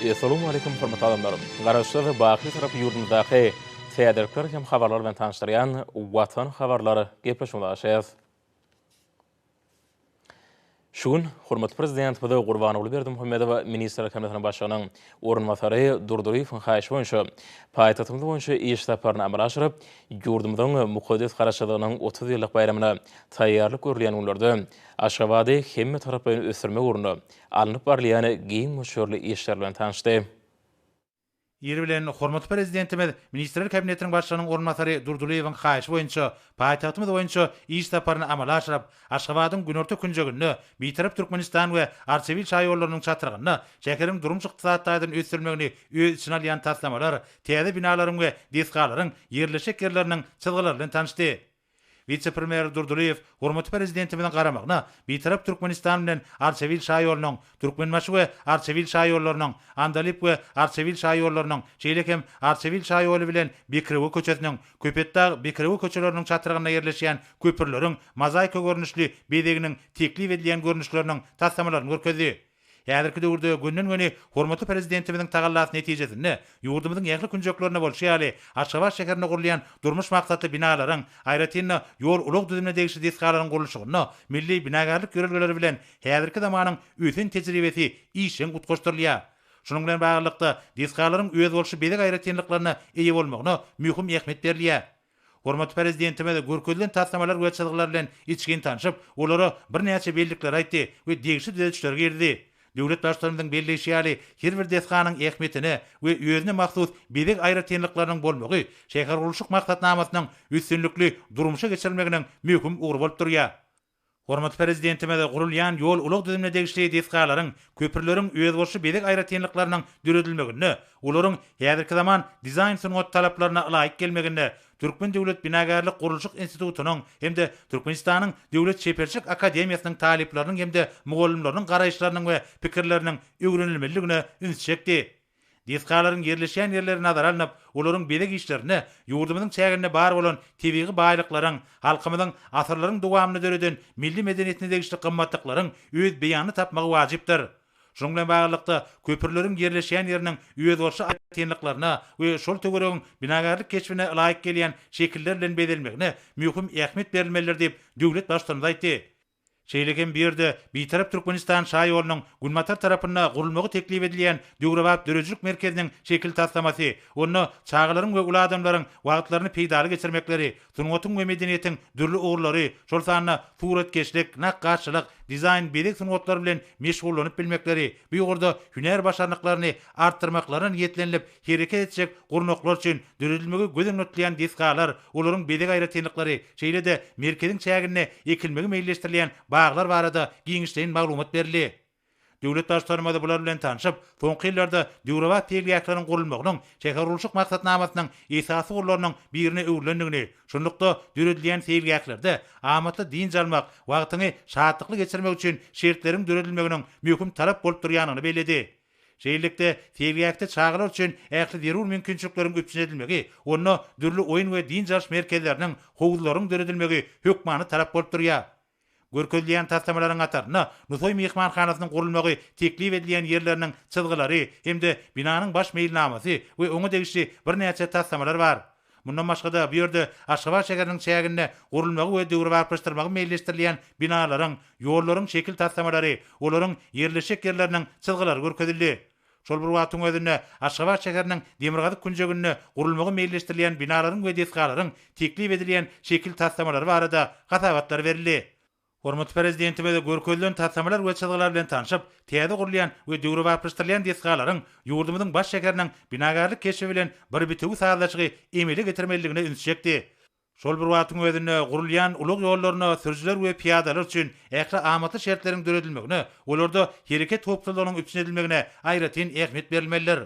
Essalamu Aleýkum hormatly adamlar! Garaşsyz, baky Türk ýurdumyzdaky täzelikler hem habarlar bilen tanyşdyrýan Watan habarlar gepleşigimize gaşýas. Şu gün hormatly Prezidentimiz Gurbanguly Berdimuhamedow Ministrler Kabinetiniň Başlygynyň orunbasary Durdyýewiň haýyşy boýunça paýtagtymyz boýunça iş saparyny amala aşyryp, ýurdumyzyň mukaddes Garaşsyzlygynyň otuz ýyllyk baýramyna taýýarlyk görülýän günlerde Aşgabady hemmetaraplaýyn ösdürmek ugrunda alnyp barylýan giň möçberli işler bilen tanyşdy. Ýeri bilen, hormatly Prezidentimiz Ministrler Kabinetiniň Başlygynyň orunbasary Durdylyýewiň haýyşy boýunça paýtagtymyz boýunça iş saparyny amala aşyryp, Aşgabadyň günorta künjeginde, Bitarap Türkmenistan we Arçabil şaýollarynyň çatrygynda şäheriň durmuş-ykdysady taýdan ösdürilmegini öz içine alýan taslamalar, täze binalaryň we desgalaryň ýerleşjek ýerleriniň çyzgylary bilen tanyşdy. Wise-premýer Durdylyýew hormatly Prezidentimiziň garamagyna Bitarap Türkmenistan bilen Arçabil şaýolunyň, Türkmenbaşy we Arçabil şaýollarynyň, Andalyp we Arçabil şaýollarynyň, şeýle hem Arçabil şaýoly bilen Bekrewe köçesiniň, Köpetdag, Bekrewe köçeleriniň çatrygynda ýerleşýän köprüleriň mozaika görnüşli bezeginiň teklip edilýän görnüşleriniň taslamalaryny görkezdi. Häzirki döwürde gönden-göni hormatly Prezidentimiziň tagallasy netijesinde, ýurdumyzyň ähli künjeklerinde bolşy ýaly, Aşgabat şäherinde gurulýan durmuş maksatly binalaryň, aýratyn-da, ýol-ulag düzümine degişli desgalaryň gurluşygynda milli binagärlik ýörelgeleri bilen häzirki zamanyň ösen tejribesi işjeň utgaşdyrylýar. Şunuň bilen baglylykda, desgalaryň özboluşly bezeg aýratynlyklaryna eýe bolmagyna möhüm ähmiýet berilýär. Hormatly Prezidentimiz görkezilen taslamalar we çyzgylar bilen içgin tanşyp, olara birnäçe bellikleri aýtdy we degişli düzedişleri girizdi. Döwlet Baştutanymyzyň belleýşi ýaly, her bir desganyň ähmiýetine we özüne mahsus bezeg aýratynlyklarynyň bolmagy şähergurluşyk maksatnamasynyň üstünlikli durmuşa geçirilmeginiň möhüm ugry bolup durýar. Hormatly Prezidentimiz gurulýan ýol-ulag düzümine degişli desgalaryň, köprüleriň özboluşly bezeg aýratynlyklarynyň döredilmeginde, olaryň häzirki zaman dizaýn-sungat talaplaryna ylaýyk gelmeginde Türkmen döwlet binagärlik-gurluşyk institutynyň hem-de Türkmenistanyň Döwlet çeperçilik akademiýasynyň talyplarynyň hem-de mugallymlarynyň garaýyşlarynyň we pikirleriniň öwrenilmelidigine üns çekdi. Desgalaryň ýerleşýän ýerleri nazara alnyp, olaryň bezeg işlerinde ýurdumyzyň çäginde bar bolan tebigy baýlyklaryň, halkymyzyň asyrlaryň dowamynda döreden milli medeniýetine degişli gymmatlyklaryň öz beýanyny tapmagy wajypdyr. Şunuň bilen baglylykda, köprüleriň ýerleşýän ýeriniň özboluşly aýratynlyklaryna we şol töweregiň binagärlik keşbine ylaýyk gelýän şekiller bilen bezelmegine möhüm ähmiýet berilmelidir diýip, döwlet Baştutanymyz aýtdy. Şeýle hem bu ýerde Bitarap Türkmenistan şaýolunyň günbatar tarapynda gurulmagy teklip edilýän döwrebap döredijilik merkeziniň şekil taslamasy, onda çagalaryň we uly adamlaryň wagtlaryny peýdaly geçirmekleri, sungatyň we medeniýetiň dürli ugurlary, şol sanda suratkeşlik, nakgaşçylyk, dizaýn, bezeg sungatlary bilen meşgullanyp bilmekleri, bu ugurda hünär başarnyklaryny artdyrmaklaryna niýetlenilip Hereket etjek gurnaklar üçin döredilmegi göz öňüne tutulýan desgalar, olaryň bezeg aýratynlyklary, şeýle-de merkeziň çäginde ekilmegi meýilleşdirilýän baglar barada giňişleýin maglumat berildi. Döwlet Baştutanymyz bular bilen tanşyp, soňky ýyllarda döwrebap seýilgähleriň gurulmagynyň şähergurluşyk maksatnamasynyň esasy ugurlarynyň birine öwrülendigini, şunlukda, döredilýän seýilgählerde amatly dynç almak, wagtyňy şatlykly geçirmek üçin şertleriň döredilmeginiň möhüm talap bolup durýandygyny belledi. Şeýlelikde, seýilgähde çagalar üçin ähli zerur mümkinçilikleriň üpjün edilmegi, onda dürli oýun we dynç alyş merkezleriniň, howuzlaryň döredilmegi hökmany talap bolup durýar. Görkezilýän taslamalaryň hatarynda Nusaý myhmanhanasynyň gurulmagy teklip edilýän ýerleriniň çyzgylary hem-de binanyň baş meýilnamasy we oňa degişli birnäçe taslamalar bar. Mundan başga-da, bu ýerde Aşgabat şäheriniň çäginde gurulmagy we döwrebaplaşdyrmagy meýilleşdirilýän binalaryň, ýollaryň şekil taslamalary, olaryň ýerleşjek ýerleriniň çyzgylary görkezildi. Şol bir wagtyň özünde, Aşgabat şäheriniň demirgazyk künjeginde gurulmagy meýilleşdirilýän binalaryň we desgalaryň teklip edilýän şekil taslamalary barada hasabatlar berildi. Hormatly Prezidentimiz görkezilen taslamalar we çyzgylar bilen tanşyp, täze gurulýan we döwrebaplaşdyrylýan desgalaryň ýurdumyzyň baş şäheriniň binagärlik keşbi bilen bir bitewi sazlaşygy emele getirmelidigine üns çekdi. Şol bir wagtyň özünde gurulýan ulag ýollaryna sürüjiler we pyýadalar üçin ähli amatly şertleriň döredilmegine, olarda hereket howpsuzlygynyň üpjün edilmegine aýratyn ähmiýet berilmelidir.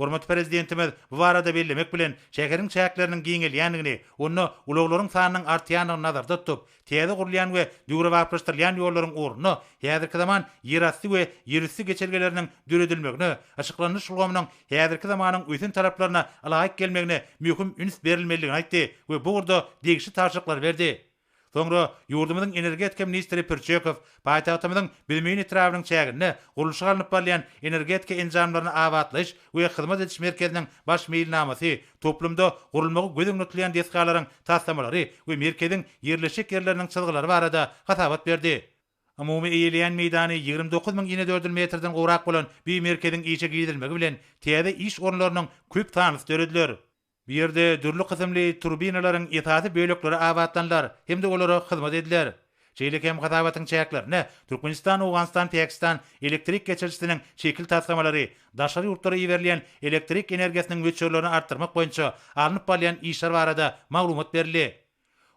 Hormatly Prezidentimiz bu barada bellemek bilen, şäheriň çäkleriniň giňelýändigini, onda ulaglaryň sanynyň artýandygyny nazarda tutup, täze gurulýan we döwrebaplaşdyrylýan ýollaryň ornuna häzirki zaman ýerasty we ýerüsti geçelgeleriniň döredilmegine, yşyklanyş ulgamynyň häzirki zamanyň ösen talaplaryna ylaýyk gelmegine möhüm üns berilmelidigini aýtdy we bu ugurda degişli tabşyryklary berdi. Soňra ýurdumyzyň energetika ministri Pürçekow paýtagtymyzyň Büzmeýin etrabynyň çäginde gurluşyk alnyp barylýan Energetika enjamlaryny abatlaýyş we hyzmat ediş merkeziniň baş meýilnamasy, toplumda gurulmagy göz öňünde tutulýan desgalaryň taslamalary we merkeziň ýerleşjek ýerleriniň çyzgylary barada hasabat berdi. Umumy eýeleýän meýdany ýigrimi dokuz müň inedördül metrden gowrak bolan bi merkeziň işe girizilmegi bilen täze iş orunlarynyň köp sanlysy dörediler. Bu ýerde dürli kysymly turbinalaryň esasy bölekleri abatlanylar hem-de olara hyzmat ediler. Şeýle hem hasabatyň çäklerine Türkmenistan, Owganystan, Pakistan elektrik geçirijisiniň şekil taslamalary, daşary ýurtlara iberilýän elektrik energiýasynyň möçberlerini artdyrmak boýunça alnyp barylýan işler barada maglumat berildi.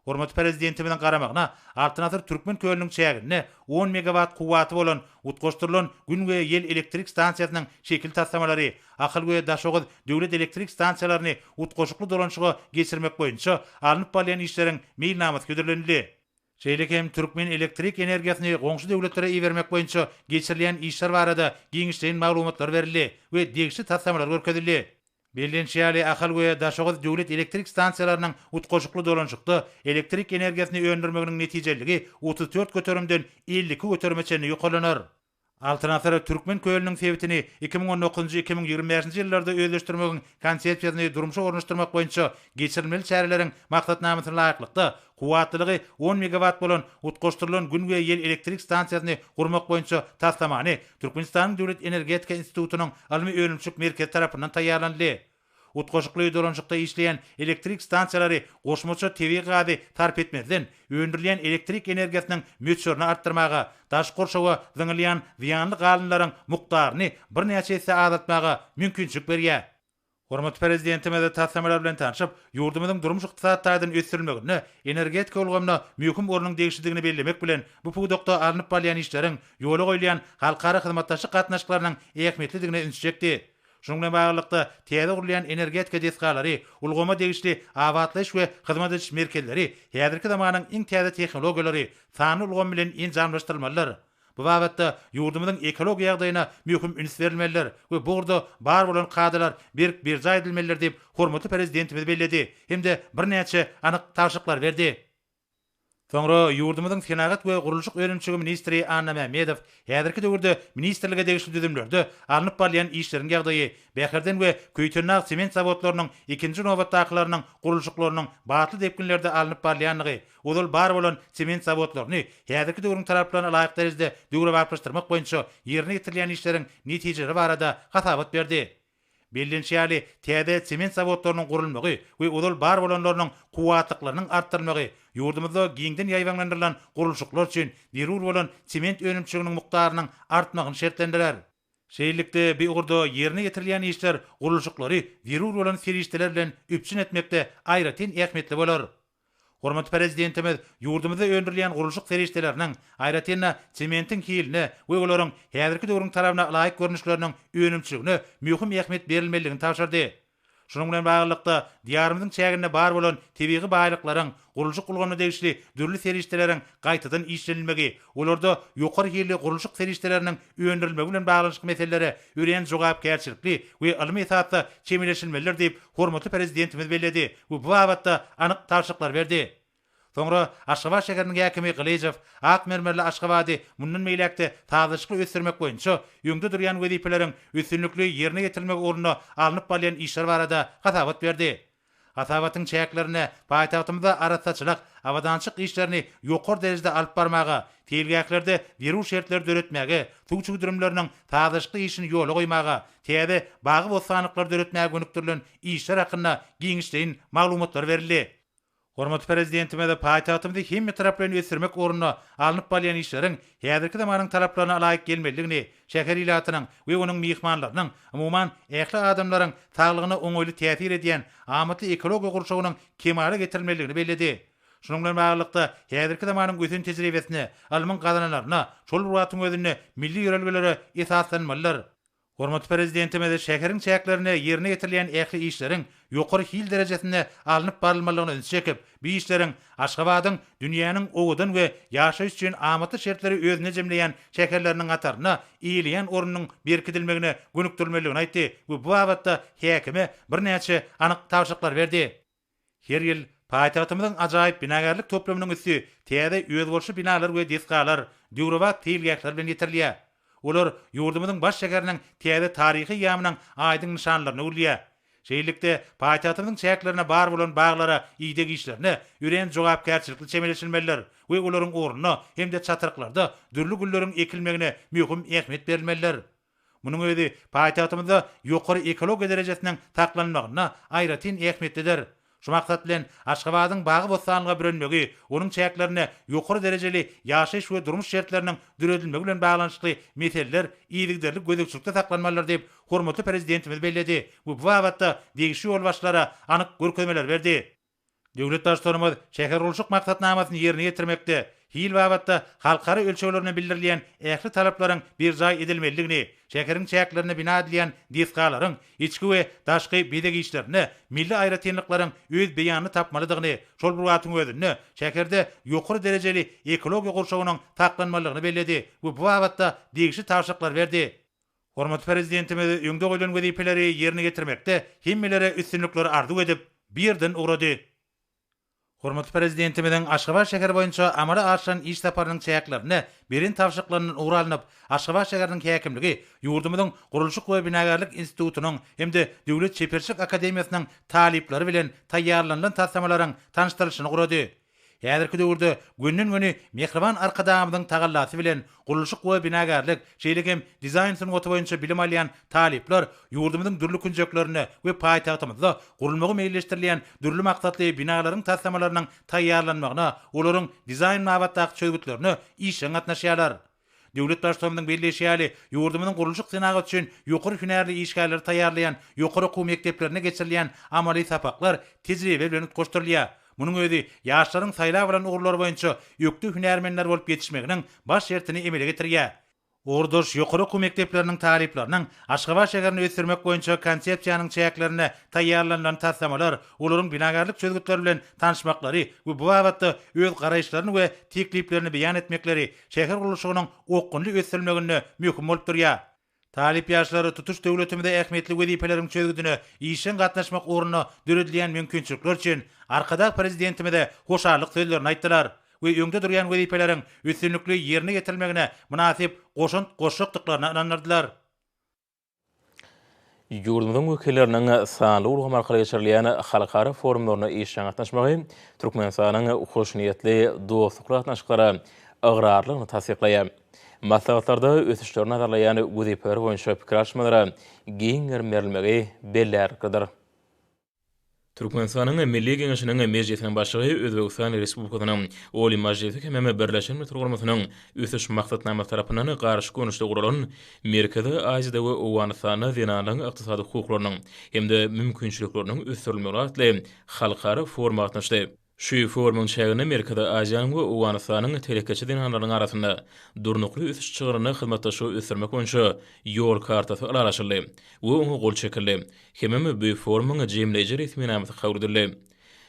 Hormatly Prezidentimiziň garamagyna Altyn asyr Türkmen kölüniň çäginde on megawat kuwwaty bolan utgaşdyrylan Gün we ýel elektrik stansiýasynyň şekil taslamalary, Ahal we Daşoguz döwlet elektrik stansiýalaryny utgaşykly dolanyşyga geçirmek boýunça alnyp barylýan işleriň meýilnamasy hödürlenildi. Şeýle hem türkmen elektrik energiýasyny goňşy döwletlere ibermek boýunça geçirilýän işler barada giňişleýin maglumatlar berildi we degişli taslamalar görkezildi. Bellenişi ýaly, Ahal we Daşoguz döwlet elektrik stansiýalarynyň utgaşykly dolanyşykda elektrik energiýasyny öndürmeginiň netijeliligi otuz dört göterimden elli iki göterime çenli ýokarlanar. Altyn asyr Türkmen kölüniň sebitini iki müň on dokuzynjy, iki müň ýigrimi bäşinji ýyllarda özleşdirmegiň Konsepsiýasyny durmuşa ornaşdyrmak boýunça geçirilmeli çäreleriň maksatnamasyna laýyklykda, Kuwwatlylygy on megawatt bolan utgaşdyrylan Gün we ýel elektrik stansiýasyny gurmak boýunça taslamany Türkmenistanyň Döwlet energetika institutynyň ylmy-önümçilik merkezi tarapyndan taýýarlanyldy. Utgaşykly dolanyşykda işleýän elektrik stansiýalary goşmaça tebigy gazy sarp etmezden, öndürilýän elektrik energiýasynyň möçberini artdyrmaga, daşky gurşawa zyňylýan zyýanly galyndylaryň mukdaryny birnäçe esse azaltmaga mümkinçilik berýär. Hormatly Prezidentimiz taslamalar bilen tanşyp, ýurdumyzyň durmuş-ykdysady taýdan ösdürilmeginde energetika ulgamyna möhüm ornuň degişlidigini bellemek bilen, bu pudakda alnyp barylýan işleriň, ýola goýulýan halkara hyzmatdaşlyk gatnaşyklarynyň ähmiýetlidigine ünsi çekdi. Şunuň bilen baglylykda, täze gurulýan energetika desgalary, ulgama degişli abatlaýyş we hyzmat ediş merkezleri häzirki zamanyň iň täze tehnologiýalary, sanly ulgam bilen enjamlaşdyrylmalydyr. Bu babatda ýurdumyzyň ekologiýa ýagdaýyna möhüm üns berilmelidir we bu ugurda bar bolan kadalar berk berjaý edilmelidir diýip, hormatly Prezidentimiz belledi hem-de birnäçe anyk tabşyryklary berdi. Soňra ýurdumyzyň Senagat we gurluşyk önümçigi ministri Annamämmedow häzirki döwürde ministrlige degişli düzümlerde alnyp barylýan işleriň ýagdaýy, Bäherden we Köýtendag sement zawodlarynyň, ikinji nobatdakylarynyň gurluşyklarynyň batly depginlerde alnyp barylýandygy, Ozal bar bolan sement zawodlaryny häzirki döwrüň talaplaryna laýyk derejede döwrebaplaşdyrmak boýunça ýerine ýetirilýän işleriň netijeleri barada hasabat berdi. Bellenişi ýaly, täze sement zawodlarynyň gurulmagy we ozal bar bolanlarynyň kuwwatlyklarynyň artdyrylmagy ýurdumyzda giňden ýaýbaňlandyrylan gurluşyklar üçin zerur bolan sement önümçiliginiň mukdarynyň artmagyny şertlendirer. Şeýlelikde, bu ugurda ýerine ýetirilýän işler gurluşyklary zerur bolan serişdeler bilen üpjün etmekde aýratyn ähmiýetli bolar. Hormatly Prezidentimiz ýurdumyzda öndürilýän gurluşyk serişdeleriniň, aýratyn-da, sementiň hiline we olaryň häzirki döwrüň talabyna laýyk görnüşleriniň önümçiligine möhüm ähmiýet berilmelidigini tabşyrdy. Şunuň bilen baglylykda, Diýarymyzyň çäginde bar bolan tebigy baýlyklaryň, gurluşyk ulgamyna degişli dürli serişdeleriň gaýtadan işlenilmegi, olarda ýokary hilli gurluşyk serişdeleriniň öndürilmegi bilen baglanyşykly meselelere örän jogapkärçilikli we ylmy esasda çemeleşilmelidir diýip, hormatly Prezidentimiz belledi we bu babatda anyk tabşyryklary berdi. Soňra Aşgabat şäheriniň häkimi Gylyjow ak mermerli Aşgabady mundan beýläk-de sazlaşykly ösdürmek boýunça öňde durýan wezipeleriň üstünlikli ýerine ýetirilmegi ugrunda alnyp barylýan işler barada hasabat berdi. Hasabatyň çäklerinde paýtagtymyzda arassaçylyk, abadançylyk işlerini ýokary derejede alyp barmaga, seýilgählerde zerur şertleri döretmäge, suw çüwdürimleriniň sazlaşykly işini ýola goýmaga, täze bagy-bossanlyklary döretmäge gönükdirilen işler hakynda giňişleýin maglumatlar berildi. Hormatly Prezidentimiz paýtagtymyzy hemme tarap bilen ösdürmek ugrunda alnyp barylýan işleriň häzirki zamanyň talaplaryna laýyk gelmelidigini, şäher ilatynyň we onuň myhmanlarynyň, umuman, ähli adamlaryň saglygyna oňaýly täsir edýän amatly ekologiýa gurşawynyň kemala getirilmelidigini belledi. Şunuň bilen baglylykda, häzirki zamanyň ösen tejribesine, ylmyň gazananlaryna, şol bir wagtyň özünde milli ýörelgelere esaslanmalydyr. Hormatly Prezidentimiz şäheriň çäklerinde ýerine ýetirilýän ähli işleriň ýokary hil derejesinde alnyp barylmalygyna ünsi çekip, bu işleriň Aşgabadyň dünýäniň owadan we ýaşaýyş üçin amatly şertleri özünde jemleýän şäherleriniň hatarynda eýeleýän ornunyň berkidilmegine gönükdirilmelidigini aýtdy we bu babatda häkime birnäçe anyk tabşyryklar berdi. Her ýyl paýtagtymyzyň ajaýyp binagärlik toplumynyň üsti täze özboluşly binalar we desgalar, döwrebap seýilgähler bilen ýetirilýär. Olar ýurdumyzyň baş şäheriniň täze taryhy ýamynyň aýdyň nyşanlaryna öwrülýär. Şeýlelikde, paýtagtymyzyň çäklerine bar bolan baglara ideg işlerine örän jogapkärçilikli çemeleşilmelidir we olaryň ornuna hem-de çatryklarda dürli gülleriň ekilmegine möhüm ähmiýet berilmelidir. Munuň özi paýtagtymyzda ýokary ekologiýa derejesiniň saklanmagynda aýratyn ähmiýetlidir. Şu maksat bilen, Aşgabadyň bagy-bossanlyga bürenmegi, onuň çäklerinde ýokary derejeli ýaşaýyş we durmuş şertleriniň döredilmegi bilen baglanyşykly meseleler yzygiderli gözegçilikde saklanmalydyr diýip, hormatly Prezidentimiz belledi we bu babatda degişli ýolbaşçylara anyk görkezmeler berdi. Döwlet Baştutanymyz şähergurluşyk maksatnamasyny ýerine ýetirmekde hil babatda halkara ölçeglerine bildirilýän ähli talaplaryň berjaý edilmelidigini, şäheriň çäklerinde bina edilýän desgalaryň içki we daşky bezeg işlerinde milli aýratynlyklaryň öz beýanyny tapmalydygyny, şol bir wagtyň özünde şäherde ýokary derejeli ekologiýa gurşawynyň saklanmalydygyny belledi we bu babatda degişli tabşyryklary berdi. Hormatly Prezidentimiz öňde goýlan wezipeleri ýerine ýetirmekde hemmelere üstünlikler arzuw edip, bu ýerden ugrady. Hormatly Prezidentimiziň Aşgabat şäheri boýunça amala aşyran iş saparynyň çäklerinde beren tabşyryklaryndan ugur alnyp, Aşgabat şäheriniň häkimligi ýurdumyzyň Gurluşyk we binagärlik institutynyň hem-de Döwlet çeperçilik akademiýasynyň talyplary bilen taýýarlanylan taslamalaryň tanyşdyrylyşyny gurady. Häzirki döwürde gönden-göni mähriban Arkadagymyzyň tagallasy bilen gurluşyk we binagärlik, şeýle hem dizaýn sungaty boýunça bilim alýan talyplar ýurdumyzyň dürli künjeklerinde we paýtagtymyzda gurulmagy meýilleşdirilýän dürli maksatly binalaryň taslamalarynyň taýýarlanmagyna, olaryň dizaýn babatdaky çözgütlerine işjeň gatnaşýarlar. Döwlet Baştutanymyzyň belleýşi ýaly, ýurdumyzyň gurluşyk senagat üçin ýokary hünärli işgärleri taýýarlaýan ýokary okuw mekdeplerinde geçirilýän amaly sapaklar tejribe bilen utgaşdyrylýar. Munuň özi ýaşlaryň saýlap alan ugurlary boýunça ökde hünärmenler bolup ýetişmeginiň baş şertini emele getirýär. Ugurdaş ýokary okuw mekdepleriniň talyplarynyň Aşgabat şäherini ösdürmek boýunça Konsepsiýanyň çäklerinde taýýarlanylan taslamalar, olaryň binagärlik çözgütleri bilen tanyşmaklary we bu babatda öz garaýyşlaryny we tekliplerini beýan etmekleri şäher gurluşygynyň okgunly ösdürilmeginde möhüm bolup durýar. Talyp ýaşlar tutuş döwletimizde ähmiýetli wezipeleriň çözgüdine işjeň gatnaşmak ugrunda döredilýän mümkinçilikler üçin Arkadag Prezidentimize hoşallyk sözlerini aýtdylar we öňde durýan wezipeleriň üstünlikli ýerine ýetirilmegine mynasyp goşant goşjakdyklaryna ynandyrdylar. Ýurdumyzyň wekilleriniň sanly ulgam arkaly geçirilýän halkara forumlaryna işjeň gatnaşmagy Türkmenistanyň hoşniýetli dostlukly gatnaşyklara ygrarlylygyny tassyklaýar. Maslahatlarda ösüşleri nazarlaýan wezipeler boýunça pikir alyşmalara giň gerim berilmegi bellärliklidir. Türkmenistanyň Milli Geňeşiniň Mejlisiniň Başlygy Özbegistan Respublikasynyň Oliý Majlisy hemem Birleşen Milletler Guramasynyn Ösüş Maksatnamasy tarapyndan garşy görnüşde guralan Merkezi Aziýada we Owganystanda zenanlaryň ykdysady hukuklarynyň hem-de mümkinçilikleriniň ösdürilmegi atly halkara foruma gatnaşdy. Şu forumyň çäginde Merkezi Aziýanyň we Owganystanyň telekeçi zenanlarynyň arasynda Durnukly ösüş çygrynda hyzmatdaşlygy ösdürmek boýunça Ýol kartasy ylalaşyldy we oňa gol çekildi hemem bu forumyň jemleýji resminamasy kabul edildi.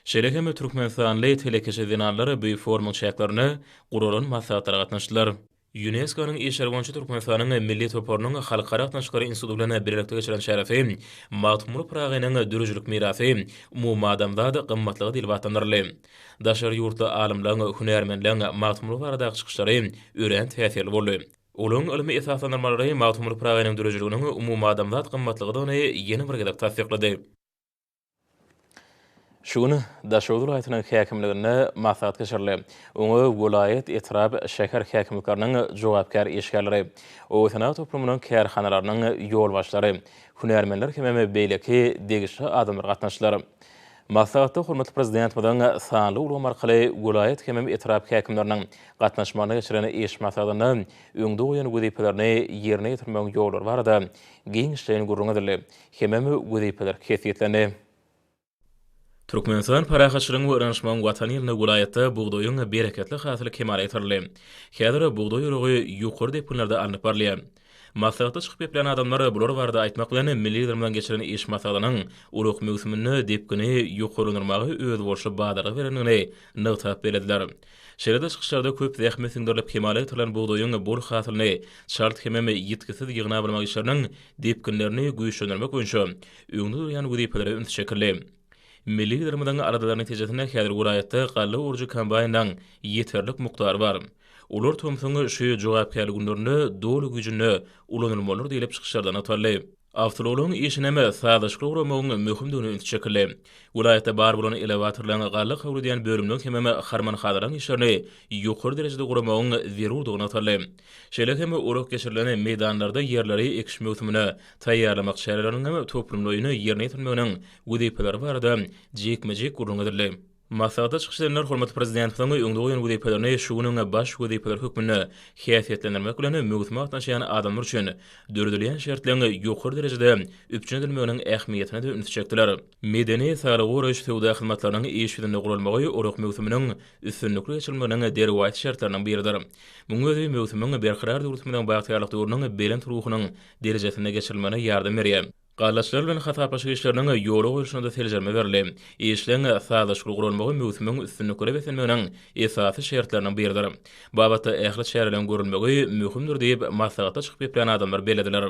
Şeýle hem türkmenistanly telekeçi zenanlar bu forumyň çäklerinde guralan maslahatlara gatnaşdylar. Ýunesko-nyň işleri boýunça Türkmenistanyň Milli toparynyň Halkara gatnaşyklary instituty bilen bilelikde geçiren çäresi Magtymguly Pyragynyň döredijilik mirasy, umumadamzat gymmatlygy diýlip atlandyryldy. Daşary ýurtly alymlaryň, hünärmenleriň Magtymguly baradaky çykyşlary örän täsirli boldy. Olaryň ylmy esaslandyrmalary Magtymguly Pyragynyň döredijiliginiň umumadamzat gymmatlygydygyny ýene bir gezek tassyklady. Şu gün Daşoguz welaýatynyň häkimliginde maslahat geçirildi. Oňa welaýat, etrap, şäher häkimlikleriniň jogapkär işgärleri, obasenagat toplumynyň kärhanalarynyň ýolbaşçylary, hünärmenler hemem beýleki degişli adamlar gatnaşdylar. Maslahatda hormatly Prezidentimiziň sanly ulgam arkaly welaýat hemem etrap häkimleriniň gatnaşmagynda geçiren iş maslahatynda öňde goýan wezipelerini ýerine ýetirmegiň ýollary barada giňişleýin gürrüň edildi. Hemem wezipeler kesgitlendi. Türkmenistan parahatçylygyň we ynanyşmagyň Watany ýylynda welaýatda bugdaýyň bereketli hasyly kemala getirildi. Häzir bugdaý oragy ýokary depginlerde alnyp barylýar. Maslahatda çykyp geplän adamlar bular barada aýtmak bilen, milli Liderimiziň geçiren iş maslahatynyň ulag möwsüminde depgini ýokarlandyrmaga özboluşly badalga berendigini nygtap bellediler. Şeýle-de çykyşlarda köp zähmet siňdirilip kemala getirilen bugdaýyň bol hasylyny çalt hemem ýitgisiz ýygnap almak işleriniň depginlerini güýçlendirmek boýunça öňde durýan wezipelere üns çekildi. Milli Liderimiziň aladalary netijesinde häzir welaýatda galla orujy kombaýnynyň ýeterlik mukdary bar. Olar tomsuň şu jogapkärli günlerinde doly güýjünde ulanylmalydyr diýlip çykyşlarda nygtaldy. Awtoulagyň işini hem sazlaşykly guramagyň möhümdigine üns çekildi. Welaýatda bar bolan elewatorlaryň galla kabul edýän bölüminiň hemem harman-hazaryň işlerini ýokary derejede guramagyň zerurdygy nygtaldy. Şeýle hem ulag geçirilen meýdanlarda ýerleri ekiş möwsümine taýýarlamak çäreleriniň hem toplumlaýyn ýerine ýetirilmeginiň wezipeleri barada jikme-jik gürrüň edildi. Maslahatda çykyş edenler hormatly Prezidentimiziň öňde goýan wezipelerini şu günüň baş wezipeleri hökmünde häsiýetlendirmek bilen möwsüme gatnaşýan adamlar üçin döredilýän şertleň ýokary derejede üpjün edilmeginiň ähmiýetine-de ünsi çekdiler. Medeni-sarygöreş söwda hyzmatlarynyň iş ýüzünde guralmagy orak möwsüminiň üstünlikli geçirilmeginiň derwaýys şertleriniň biridir. Munuň özi möwsümiň berkarar döwletimiziň bagtyýarlyk döwrüniň belent ruhunyň derejesinde geçirilmegine ýardam berýär. Gallaçylar bilen hasaplaşyk işleriniň ýola goýlşyna-da seljerme berildi. Işleň sazlaşykly guralmagy möwsümiň üstünliklere beslenmeginiň esasy şertleriniň biridir. Babatda ähli çäreleriň görülmegi möhümdir diýip, maslahatda çykyp geplän adamlar bellediler.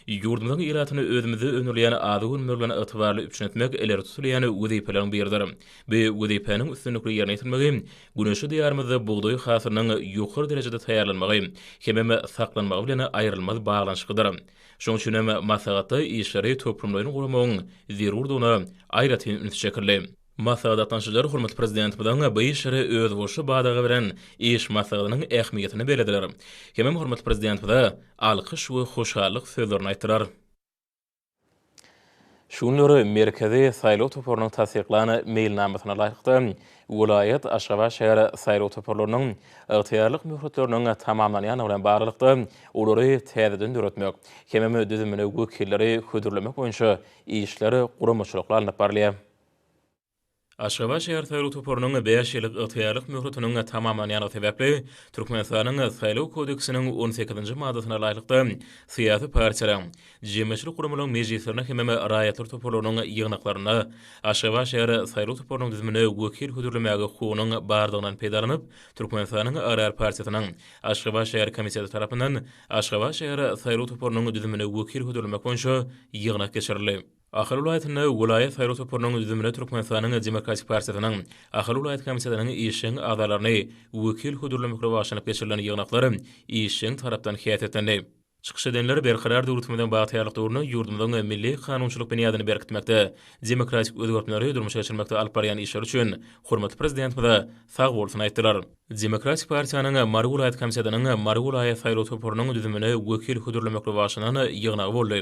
Ýurdumyzyň ilatyny özümizde öndürilýän azyk önümleri bilen ygtybarly üpjün etmek ileri tutulýan wezipeleriň biridir. Bu wezipäniň üstünlikli ýerine ýetirilmegi güneşli Diýarymyzda bugdaý hasylynyň ýokary derejede taýýarlanmagy hemem saklanmagy bilen aýrylmaz baglanyşyklydyr. Şonuň üçin hem maslahatda işleri toplumlaýyn guramagyň zerurdygyna aýratyn üns çekildi. Maslahat gatnaşyjylary hormatly Prezidentimiziň bu işlere özboluşly badaga beren iş maslahatynyň ähmiýetini bellediler hemem hormatly Prezidentimize alkyş we hoşallyk sözlerini aýtdylar. Şu günler Merkezi saýlaw toparynyň tassyklan meýilnamasyna laýyklykda, welaýat, Aşgabat şäher saýlaw toparlarynyň ygtyýarlyk möhletleriniň tamamlanýandygy bilen baglylykda, olary täzeden döretmek hemem düzümine wekilleri hödürlemek boýunça işler guramaçylykly alnyp barylýar. Aşgabat şäher saýlaw toparynyň bäş ýyllyk ygtyýarlyk möhletiniň tamamlanýandygy sebäpli, Türkmenistanyň Saýlaw kodeksiniň on sekizinji maddasyna laýyklykda, syýasy partiýalaryň, jemgyýetçilik guramalaryň mejlislerine hemem raýatlar toparlarynyň ýygnaklaryna Aşgabat şäher saýlaw toparynyň düzümine wekil hödürlemäge hukugynyň bardygyňdan peýdalanyp, Türkmenistanyň Agrar partiýasynyň Aşgabat şäher komiteti tarapyndan Aşgabat şäher saýlaw toparynyň düzümine wekil hödürlemek boýunça ýygnak geçirildi. Ahal welaýatynda welaýat saýlaw toparynyň düzümine Türkmenistanyň Demokratik partiýasynyň Ahal welaýat komitetynyň işjeň agzalaryny wekil hödürlemekle bagşlanyp geçirilen ýygnaklar işjeň tarapdan häsiýetlendi. Çykyş edenler Berkarar döwletimiziň bagtyýarlyk döwründe ýurdumyzyň milli kanunçylyk binýadyny berkitmekde, demokratik özgertmeleri durmuşa geçirmekde alyp barýan işleri üçin hormatly Prezidentimize sagbolsun aýtdylar. Demokratik partiýanyň Mary welaýat komitetynyň Mary welaýat saýlaw toparynyň düzümine wekil hödürlemekli başlanan ýygnagy boldy.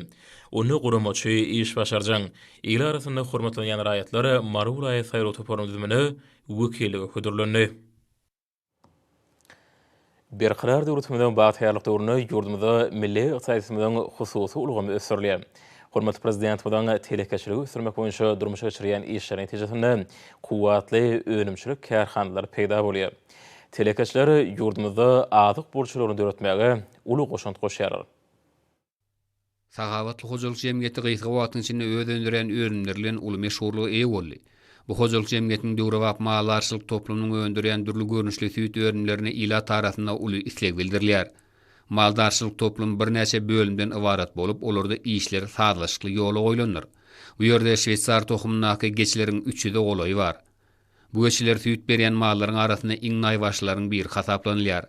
Onda guramaçy, işbaşarjaň, il arasynda hormatlanýan raýatlar Mary welaýat saýlaw toparynyň düzümine wekillige hödürlendi. Berkarar döwletimiziň bagtyýarlyk döwründe ýurdumyzda milli ykdysadyýetimiziň hususy ulgamy ösdürilýär. Hormatly Prezidentimiziň telekeçiligi ösdürmek boýunça durmuşa geçirýän işleri netijesinde kuwwatly önümçilik kärhanalary peýda bolýar. Telekeçiler ýurdumyzda azyk burçlaryny döretmäge uly goşant goşýarlar. Sahabatly hojalyk jemgyýeti gysga wagtyň içinde öz öndürýän önümleri bilen uly meşhurlyga eýe boldy. Bu hojalyk jemgyýetiniň döwrebap maldarçylyk toplumynyň öndürýän dürli görnüşli süýt önümlerine ilat arasynda uly isleg bildirilýär. Maldarçylyk toplumy birnäçe bölümden ybarat bolup, olarda işler sazlaşykly ýola goýlandyr. Bu ýerde şweýsar tohumyndaky geçileriň üç ýüze golaýy bar. Bu geçiler süýt berýän mallaryň arasynda iň naýbaşylaryň biri hasaplanylýar.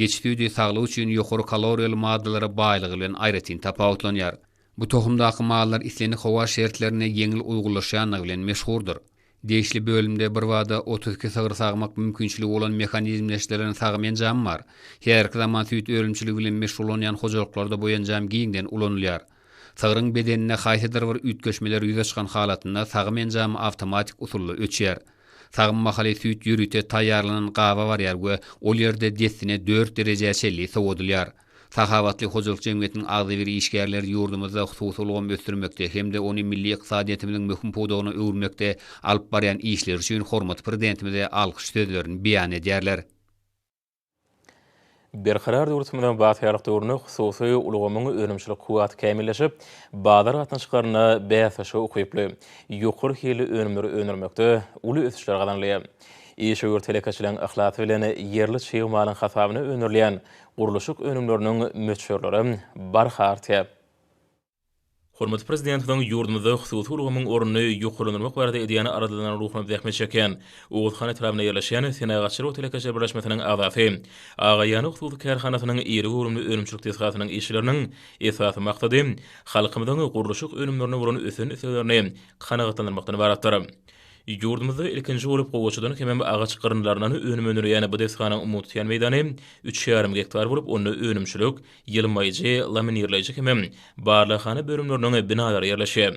Geçi süýdi saglyk üçin ýokary kaloriýaly maddalara baýlygy bilen aýratyn tapawutlanýar. Bu tohumdaky mallar islendik howa şertlerine ýeňil uýgunlaşýandygy bilen meşhurdyr. Degişli bölümde birbada otuz iki sygyr sagmak mümkinçiligi bolan mehanizmleşdirilen sagym enjamy bar. Häzirki zaman süýt önümçiligi bilen meşgullanýan hojalyklarda bu enjam giňden ulanylýar. Sygryň bedeninde haýsydyr bir üýtgeşmeler ýüze çykan halatynda sagym enjamy awtomatik usulda öçýär. Sagym mahaly süýt ýörite taýýarlanan gaba barýar we ol ýerde dessine dört derejä çenli sowadylýar. Sahawatly hojalyk jemgyýetiniň agzybir işgärleri ýurdumyzda hususy ulgamy ösdürmekde hem-de ony milli ykdysadyýetimiziň möhüm pudagyna öwürmekde alyp barýan işleri üçin hormatly Prezidentimize alkyş sözlerini beýan edýärler. Berkarar döwletimiziň bagtyýarlyk döwründe hususy ulgamyň önümçilik kuwwaty kämilleşip, bazar gatnaşyklarynda bäsleşige ukyply, ýokary hilli önümleri öndürmekde uly ösüşler gazanylýar. Işewür telekeçileriň yhlasy bilen ýerli çig malyň hasabyna öndürilýän Gurluşyk önümleriniň möçberleri barha artýar. Hormatly Prezidentimiziň ýurdumyzda hususy ulgamyň ornuny ýokarlandyrmak barada edýän aladalaryna ruhum zähmet çekýän Oguzhan etrabynda ýerleşýän Senagatçylyk we telekeçilik birleşmesiniň agzasy, Agaýany hususy kärhanasynyň iri göwrümli önümçilik desgasynyň işçileriniň esasy maksady halkymyzyň gurluşyk önümlerine bolan ösen isleglerini kanagatlandyrmakdan ybaratdyr. Ýurdumyzda ilkinji bolup gowaçadan hemem agaç gyrynlaryndan önüm öndürilýän bu desganyň umumy tutýan meýdany üç ýarym gektar bolup, onda önümçilik, ýylmaýjy, laminirleýji hemem barlaghana bölümleriniň binalary ýerleşýär.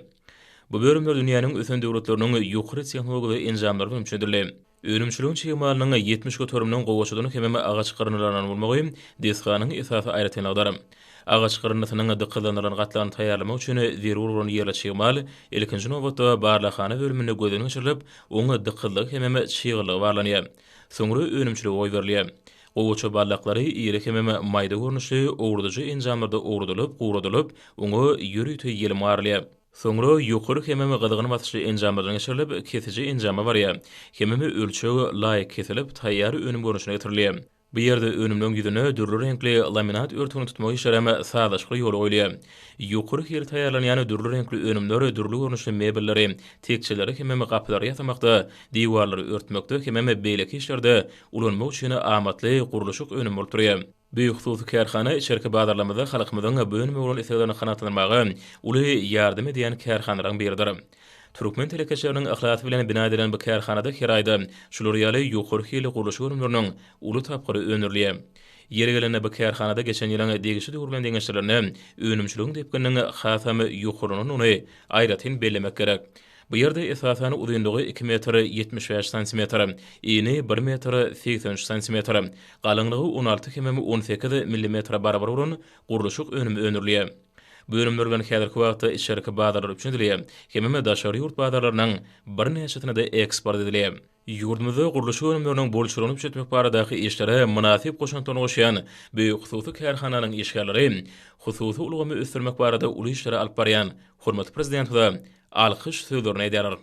Bu bölümler dünýäniň ösen döwletleriniň ýokary tehnologiýaly enjamlary bilen üçedildi. Önümçiligiň çig malynyň ýetmiş göteriminiň gowaçadan hemem agaç gyrynlaryndan bolmagy desganyň esasy aýratynlygydyr. Agaç gyryndysynyň dykyzlandyrylan gatlagyny taýýarlamak üçin zerur bolan ýerli çig mal, ilkinji nobatda, barlaghana bölüminde gözden geçirilip, oň dykyzlygy hemem çyglygy barlanýar. Soňra önümçilige goýberilýär. Gowaça barlaklary iri hemem maýda görnüşli owradyjy enjamlarda owradylyp, guradylyp, oňa ýörite ýelim garylýar. Soňra ýokary hemem gyzgyn basyşly enjamlardan geçirilip, kesiji enjama barýar. Hemem ölçeg laýyk kesilip, taýýar önüm görnüşine getirilýär. Bu ýerde önümleň ýüzüne dürli reňkli laminat örtügini tutmak işleri hem sazlaşykly ýola goýulýar. Ýokary hil taýýarlanýan dürli reňkli önümler dürli görnüşli mebelleri, tekjeleri hemem gapylary ýasamakda, diwarlary örtmekde hemem beýleki işlerde ulanmak üçin amatly gurluşyk önümi bolup durýar. Bu hususy kärhana içerki bazarlarymyzda halkymyzyň bu önüme bolan isleglerini kanagatlandyrmaga uly ýardam edýän kärhanalaryň biridir. Türkmen telekeçileriniň yhlasy bilen bina edilen bu kärhanada her aýda şular ýaly ýokary hilli gurluşyk önümleriniň uly tapgyry öndürilýär. Ýeri gelende bu kärhanada geçen ýylyň degişli döwür bilen deňeşdirlende önümçiligiň depgininiň hasam ýokarlanandygyny aýratyn bellemek gerek. Bu ýerde esasan uzynlygy iki metr ýetmiş bäş santimetr, eni bir metr segsen üç santimetr, galyňlygy on alty hemem on sekiz millimetre barabar bolan gurluşyk önümi öndürilýär. Bu önümler bilen häzirki wagtda içerki bazarlar üçin däl, hemem daşary ýurt bazarlarynyň birnäçesine-de eksport edilýär. Ýurdumyzda gurluşyk önümleriniň bolçulygyny üpjetmek baradaky işlere mynasyp goşantlaryny goşýan bu hususy kärhananyň işgärleri hususy ulgamy ösdürmek barada uly işleri alyp barýan hormatly Prezidentimize alkyş sözlerini edýärler.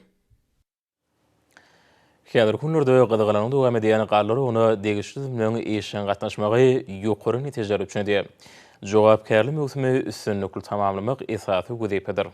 Häzirki günlerde gyzgalaňyň dowam edýän garly uruguna degişli düzümleriň işjeň gatnaşmagy ýokary netijeler üpjün edýär. Jogapkärli möwsümi üstünlikli tamamlamak esasy wezipedir.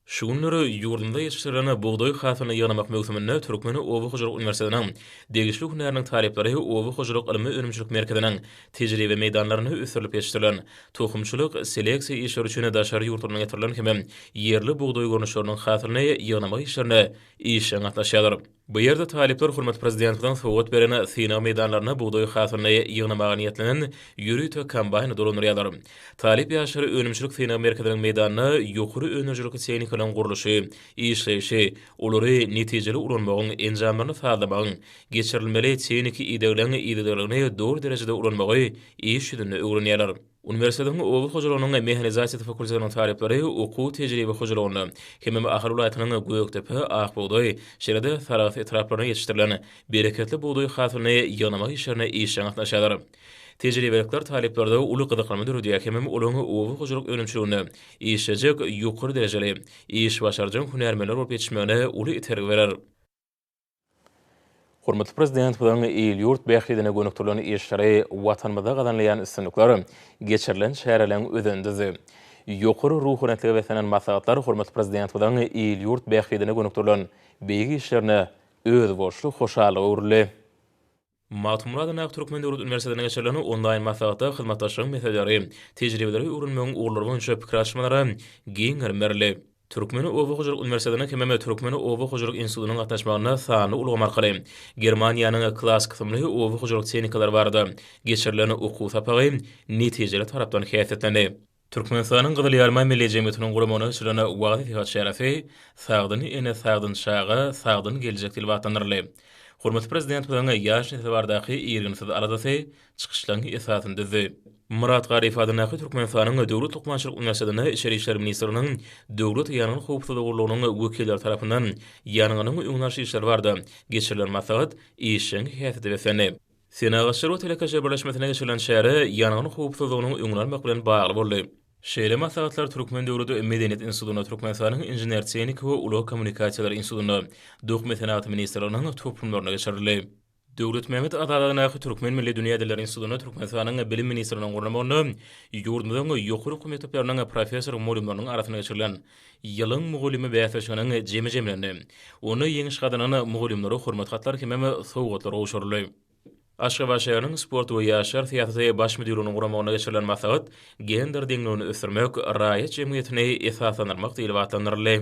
Şu günler ýurdumyzda ýetişdirilen bugdaý hasylyny ýygnamak möwsüminde Türkmen oba hojalyk uniwersitetiniň degişli hünäriniň talyplary Oba hojalyk ylmy-önümçilik merkeziniň tejribe meýdanlarynda ösdürilip ýetişdirilen Tohumçylyk, seleksiýa işleri üçin daşary ýurtlardan getirilen hem-ä ýerli bugdaý görnüşleriniň hasylyny ýygnamak işlerine işjeň gatnaşýarlar. Bu ýerde talyplar hormatly Prezidentimiziň sowgat beren synag meýdanlarynda bugdaý hasylyny ýygnamaga niýetlenen ýörite kombaýny dolandyrýarlar. Talyp ýaşlary önümçilik synag merkeziniň meýdanynda ýokary önerijilikli tehnikalaryň gurluşy, işleýşi, olary netijeli ulanmagyň, enjamlaryny sazlamagyň, geçirilmeli tehniki idegleň yzygiderligini doly derejede ulanmagy iş ýüzünde öwrenýärler. Uniwersitetiň oba hojalygynyň mehanizasiýasy fakultetiniň talyplary okuw tejribe hojalygynda hemem Ahal welaýatynyň Gökdepe, Akbugdaý, şeýle-de Sarahs etraplarynda ýetişdirilen bereketli bugdaý hasylyny ýygnamak işlerine işjeň gatnaşýarlar. Tejribelikler talyplarda uly gyzyklanma döredýär hemem olaň oba hojalyk önümçiliginde işlejek ýokary derejeli, iş başarjaň hünärmenler bolup ýetişmegine uly itergi berer. Hormatly Prezidentimiziň il-ýurt bähbidine gönükdirilen işleri, Watanymyzda gazanylýan üstünlikler, geçirilen çäreleriň özendizi. Ýokary ruhubelentlige beslenen maslahatlar hormatly Prezidentimiziň il-ýurt bähbidine gönükdirilen beýik işlerine özboluşly hoşallyga öwrüldi. Magtymguly Adak Türkmen döwlet uniwersitetinde geçirilen onlaýn maslahatda hyzmatdaşlygyň meseleleri, tejribeleri öwrenmegiň ugurlary boýunça pikir alyşmalara giň gerim berildi. Türkmen oba hojalyk uniwersitetiniň hemem Türkmen oba hojalyk institutynyň gatnaşmagynda sanly ulgam arkaly Germaniýanyň Klass kysymly oba hojalyk tehnikalary barada geçirilen okuw sapagy netijeli tarapdan häsiýetlendi. Türkmenistanyň Gyzyl Ýarma Milli jemgyýetiniň guramagyna açylan wagyz-nesihat çäresi Sagdyn ene, sagdyn çaga, sagdyn geljek diýlip atlandyryldy. Hormatly Prezidentimiziň ýaş nesle baradaky irginsiz aladasy çykyşlaryň esasyny düzdi. Myrat Garyýew adyndaky Türkmenistanyň Döwlet lukmançylyk uniwersitetinden Içeri işler ministrliginiň Döwlet ýangyn howpsuzlygy gullugynyň wekilleri tarapyndan ýangynyň öňüni alyş işleri barada geçirilen maslahat işjeň häsiýete beslendi. Senagatçylar we telekeçiler birleşmesinde geçirilen çäre ýangyn howpsuzlygynyň öňüni almak bilen bagly boldy. Şeýle maslahatlar Türkmen döwlet medeniýet institutynda, Türkmenistanyň Inžener-tehniki we ulag kommunikasiýalary institutynda, Dokma senagat ministrliginiň toplumlarynda geçirildi. Döwletmämmet Azadadaky Türkmen milli dünýä dilleri institutynda Türkmenistanyň Bilim ministrliginiň gurnamagynda ýurdumyzyň ýokary okuw mekdepleriniň professor-mugallymlarynyň arasynda geçirilen Ýylyň mugallymy bäsleşiginiň jemi jemlendi. Onda ýeňiş gazanan mugallymlara hormat hatlary hemem sowgatlar gowşuryldy. Aşgabat şäheriniň Sport we ýaşlar syýasaty baş müdirliginiň guramagynda geçirilen maslahat Gender deňligini ösdürmek, raýat jemgyýetini esaslandyrmak diýlip atlandyryldy.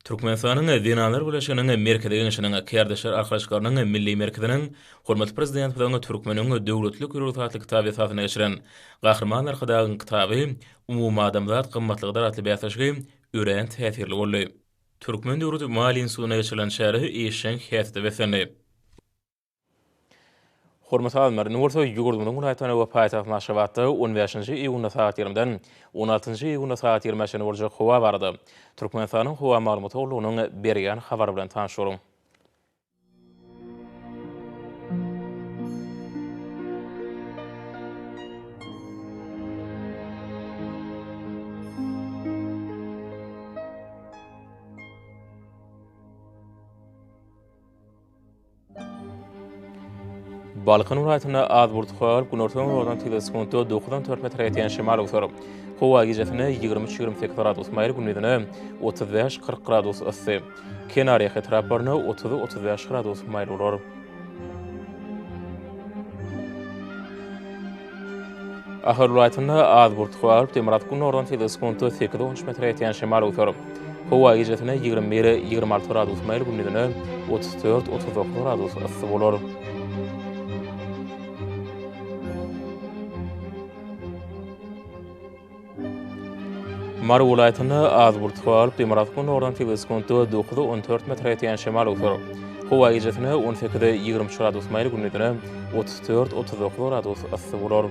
Türkmenistanyň Zenanlar birleşiginiň Merkezi Geňeşiniň Kärdeşler arkalaşyklarynyň Milli merkeziniň hormatly Prezidentimiziň Türkmeniň döwletlilik rugsatly kitaby esasynda geçiren Gahryman Arkadagyň kitaby Umumadamzat gymmatlygydyr atly bäsleşigi örän täsirli boldy. Türkmen döwlet maliýe institutynda geçirilen çäre işjeň häsiýete beslendi. Hormat sazymlar, indi bolsa ýurdumyzyň welaýatynda we paýtagtymyz Aşgabatda on bäşinji iýunda sagat ýigrimden on altynjy iýunda sagat ýigrimiä çenli boljak howa barada Türkmenistanyň Howa maglumat gullugynyň berýän habary bilen tanyşalyň. Balkan welaýatynda az bulutly bolup, günortan-günordan tiz sekuntda dokuzdan dört metre ýetýän şemal öwser. Howa gijesine ýigrimi üç-ýigrimi sekiz gradus maýyl, gündizine otuz bäş-kyrk gradus yssy. Kenarýaka etraplarynda otuz, otuz bäş gradus maýyl bolar. Ahal welaýatynda az burt howa bolup, demirgazyk gündogardan sese sekunta sekiz, on üç metre ýetýän şemal öwser. Howa gijesine ýigrimi bir, ýigrimi alty gradus maýyl, gündizine otuz dört, otuz dokuz gradus yssy bolar. Mary welaýatynda az bult galyp, demirgazyk gündogardan sekiz sekuntda dokuza on dört metre ýetýän şemal öwser. Howa gijesine on sekize ýigrimi üç gradus maýyl, gündizine otuz dört, otuz dokuz gradus yssy bolar.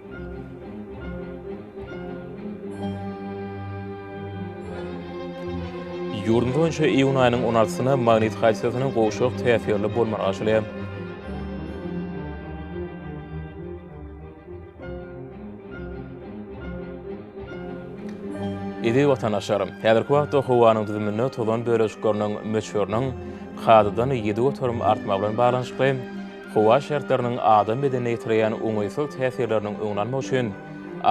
Ýurdumyz boýunça iýun aýynyň on altysyna magnit hadisasynyň gowşak täsirli bolmagy aşylýar. Eziz watandaşlar, häzirki wagtda howanyň düzüminde tozan bölejikleriniň möçberiniň kadadan ýedi göterim artmagy bilen baglanyşykly, Howa şertleriniň adam bedenine ýetirýän oňaýsyz täsirleriniň öňüni almak üçin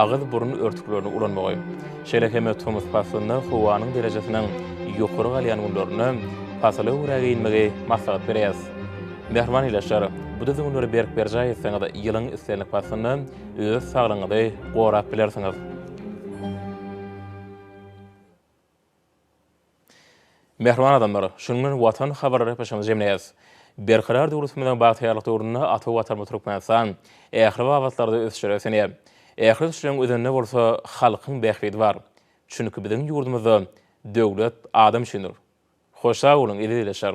agyz-burun örtüklerini ulanmagy, şeýle hem tomus paslynda howanyň derejesiniň ýokary galýan günlerinde pasyla görä geýinmegi maslahat berýäs. Mähriban ildeşler, bu düzgünleri berk berjaý etseňiz, ýylyň islendik paslynda öz saglygyňyzy gorap bilersiňiz. Mähriban adamlar, şunuň bilen Watan habarlary gepleşigimizi jemleýäs. Berkarar döwletimiziň bagtyýarlyk döwründe ata Watanymyz Türkmenistan ähli babatlarda ösüşlere ösenýär. Ähli ösüşleriň özeninde bolsa halkyň bähbidi bar. Çünki biziň ýurdumyzda Döwlet adam üçindir. Hoş sag boluň eziz ildeşler.